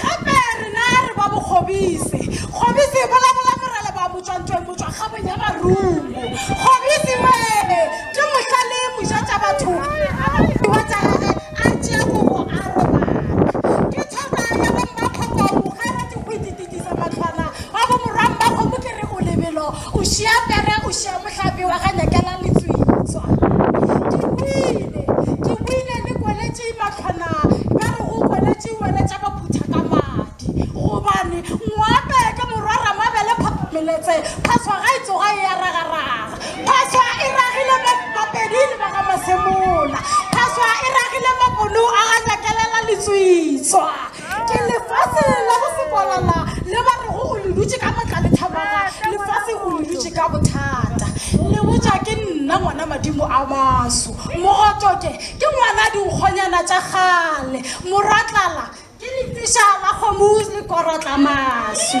Gape rena re ba bokgobise. Kgobise e bolabola morele ba motšwa ntweng motšwa kgabong ya marungu. Kgobise wee ke mohla le moja tša batho a ba modiwa tša gage a tšea kobo a robala. Ke thora ya bo mmakgoko moga ra dikgwiti titisa matlwana wa bo morwa mmakgomo ke re o lebelo o šia pere o šia mohlape wa ga nyakela letswitswa. Ke boile ke boile le kweletše matlwana ba re go kweletše Wena tša ka phutha ka madi gobane ngwape ke morwa ramabele phapha meletse phaswa ga e tsoga e ya ragaraga phaswa e ragile mo mapedi le ba ga masemola phaswa e ragile maponu a ga nyakelela letswitswa ke lefase la go sekwalala le ba rego o le dutše ka matla le thamaga lefase o le dutše ka bothata le botša ke nna ngwana madimo a maso mogotoke Ke ngwana dinkgonyana tša kgale. Morwa tlala ke lefiša la kgomo le korotla maswi.